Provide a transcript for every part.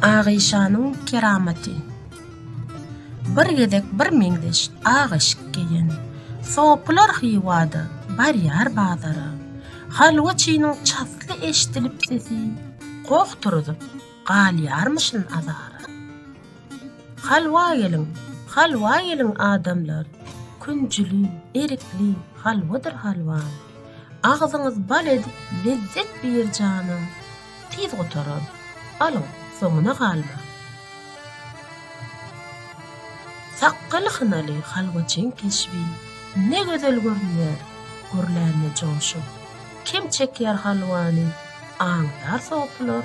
Agyşanyň keramaty. Bir gezek bir meňzeş ak eşik geýen sopylar Hywada barýar bazara. Halwaçynyň çasly eşdilip sesi, goh turuzyp, galýarmyşyn azara. Halwa geliň, halwa geliň adamlar, künjüli, erikli halwadyr halwaň. Agzyňyz bal edip lezzet bir janam tiz gutarar alyň soňuna galmaň. Sakgaly hynaly halwaçyň keşbi ne gözel görünýär gürlände joşup kim çekýär halwany aňdar sopylar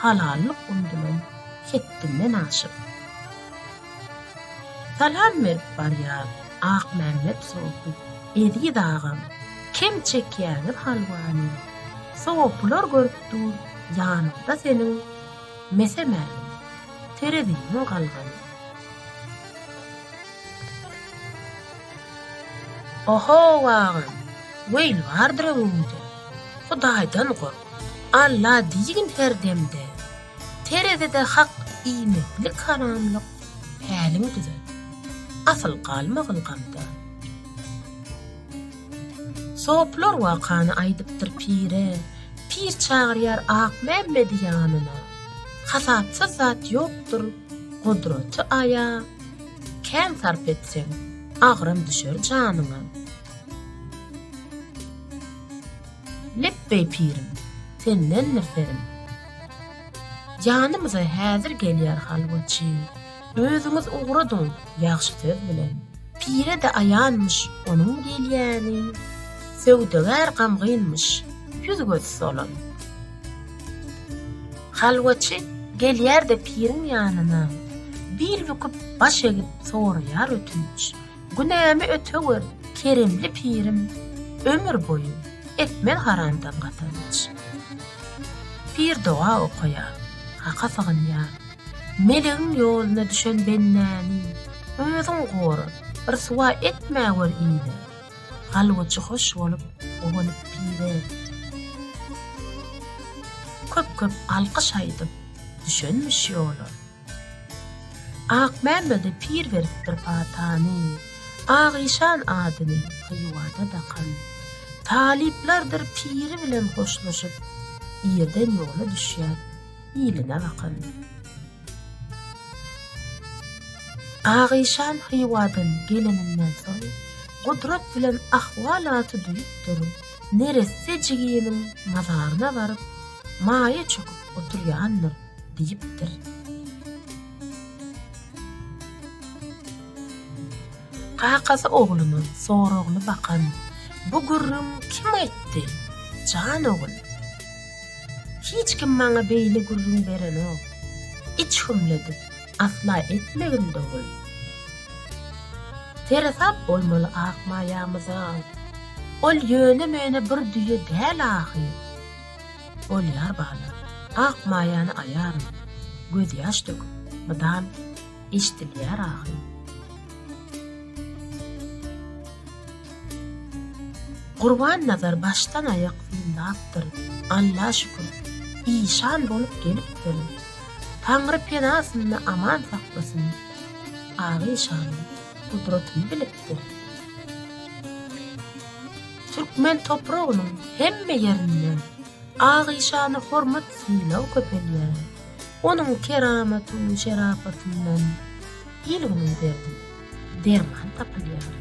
halallyk undulan hetdinden aşyp. Salam berip barýan Akmämmet sopy Eziz agam kem çekýäňiz halwany sopylar görüp dur ýanyňda seniň mese mälim tereziniň galgany. Ohow agam weýl bardyr öňüňde Hudaýdan gork Alla diýgin her demde. Terezide hak iýmitlik haramlyk päliň düzet. Asyl galmagyn gamda. Soplar wakany aýdypdyr pire, Pir çagyrýar Akmämmedi ýanyna. Hasapsyz zat ýokdur, gudraty Aýa, Kän sarp etseň, agram düşer janyňa. Lepbeý pirim, sendendir serim. Janymyza häzir gelýär halwaçy, Özüňiz ugradyň ýagşy söz bilen. Pire-de aýanmyş onuň gelýäni, Söwdagär gamgynmyş, ýüz-göz solan. Halwaçy gelýär-de piriň ýanyna, Bil büküp, baş egip soraýar ötünç. Günämi öte gör, keremli pirim, Ömür boýy, etmez haramdan gazanç. Pir doga okaýar, Haka sygynýar, Melegiň ýoluna düşen bendäni Özüň gora, ryswa etmä gör ile, Galbujy hoş bolup, guwanyp pire. Köp-köp alkyş aýdyp, düşenmiş ýola, Akmämmede pir beripdir patany, Agyşan adyny Hywada dakan. Talyplardyr piri bilen hoşlaşyp, Irden ýola düşýär iline bakan. Agyşan Hywadan geleninden soň, Gudrat bilen ahwalaty duýupdyr, neresse jiginiň mazaryna baryp, maýa çöküp oturýandyr. Diýipdir. Kakasy ogluna soragly bakan, Bu gürrüň kim aýtdy, jan ogul? Hiç kim maňa beýle gürrüň berenok. Iç hümledip, asla etmegin dogul. Seresap bolmaly Akmaýamyza. Ol ýöne-möne bir düýe däl ahyr. Bolýar balam, ak maýany aýaryn, Gözýaş döküp, mydam eşdilýär agy. Gurbannazar başdan-aýak synlapdyr, Alla şükür, işan bolup gelipdir. Taňry penasynda aman saklasyn, Agyşanyň gudratyny bilipdir. Türkmen topragynyň hemme ýerinde Agyşana hormat-sylag köpelýär. Onuň keramaty-şerapatyndan il-günüň derdine derman tapylýar.